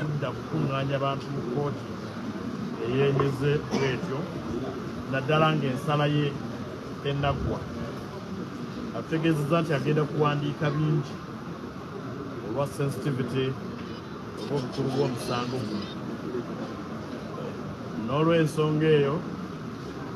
kudda kukuŋŋaanya bantu mu kkooti eyeemeze bwetyo naddala ng'ensala ye enaggwa atutegeezezza nti agenda kuwandiika bingi olwa sensitivity oba obukulu bw'omusango guno n'olw'ensonga eyo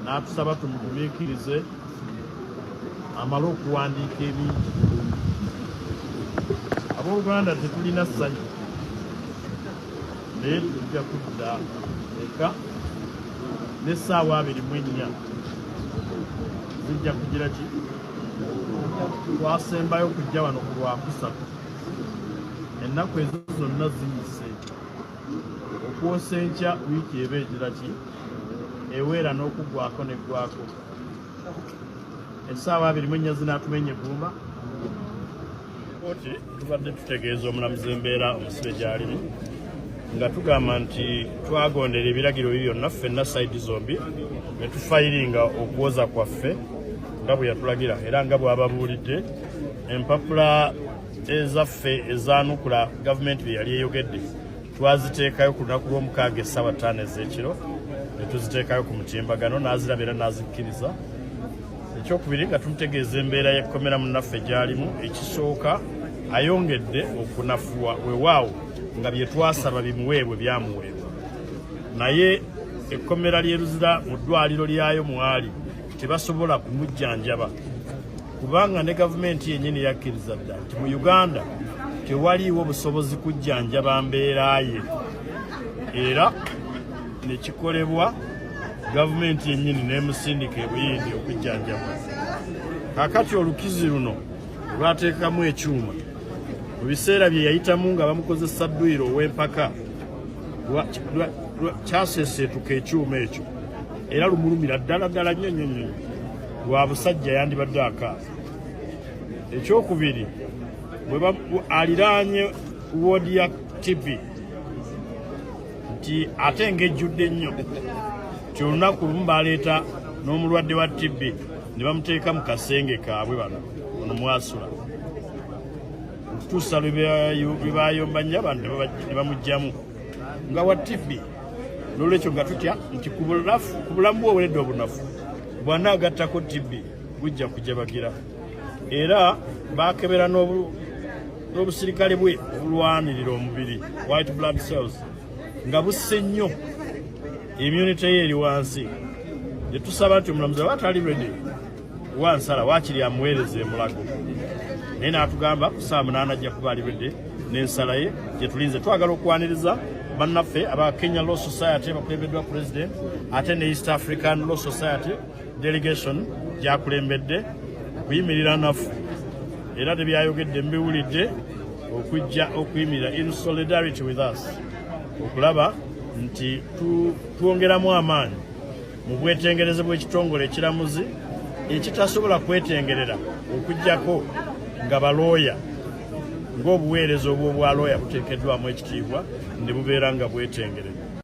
n'atusaba tumugumiikirize amale okuwandiika ebingi abooluganda tetulina ssanyu naye tujja kudda eka n'essaawa abiri mu ennya zijja kugira ki twasembayo okujja wano ku lwakusatu ennaku ezo zonna ziyise okwosa enkya wiiki eba egira ki eweera n'okuggwako neggwako essaawa abiri mu ennya zinaatuma enye eggumba Kkooti tubadde tutegeeza omulamuzi embeera omusibe gy'alimu nga tugamba nti twagondera ebiragiro bye byonna ffenna sayidi zombi ne tufayiringa okuwoza kwaffe nga bwe yatulagira era nga bw'ababuulidde empapula ezaffe ezaanukula gavumenti bye yali eyogedde twaziteekayo ku lunaku lw'omukaaga essaawa ttaano ez'ekiro ne tuziteekayo ku mutimbagano n'aziraba era n'azikkiriza ekyokubiri nga tumutegeeza embeera y'ekkomera munnaffe gy'alimu ekisooka ayongedde okunafuwa wewaawo nga bye twasaba bimuweebwe byamuweebwa naye ekkomera ly'eruzira mu ddwaliro lyayo mwali tebasobola kumujjanjaba kubanga ne gavumenti yennyini yakkiriza dda nti mu uganda tewaliiwo busobozi kujjanjaba mbeera ye era nekikolebwa gavumenti yennyini n'emusindika ebuyindi okujjanjaba kakati olukizi luno olwateekamu ekyuma mu biseera bye yayitamu nga bamukozesa dduyiro ow'empaka kyaseeseetuka ekyuma ekyo era lumulumira ddala ddala nnyo nnyo nnyo lwa busajja yandibadde akaasa ekyokubiri aliraanye woodi ya tv nti ate ngejjudde nnyo nti olunaku lumu baleeta n'omulwadde wa tb ne bamuteeka mu kasenge kaabwe bano ono mwasula okutuusa lwe bayomba nnyo abantu ne bamugjamu nga wa tv nolwekyo nga tutya nti ku bulamu bwe oweredde obunafu bwanaagattako tb bujja kujabagira era bakebera n'obusirikale bwe obulwanirira omubiri white blood cells nga busse nnyo immunity ye eri wansi netusaba nti omulamuzi aba atali redi wa nsala waakiri amuweereza emulago naye n'atugamba ku saa munaana ajja kuba alibedde n'ensala ye gye tulinze twagala okwaniriza bannaffe aba kenya law society bakulembeddwa president ate ne east african law society delegation gyakulembedde kuyimirira naffe era tebyayogedde mbiwulidde okujja okuyimirira in solidarity with us okulaba nti twongeramu amaanyi mu bwetengereze bw'ekitongole ekiramuzi ekitasobola kwetengerera okujjako nga balooya ng'obuweereza obw'obwalooya buteekeddwamu ekitiibwa ne bubeera nga bwetengerera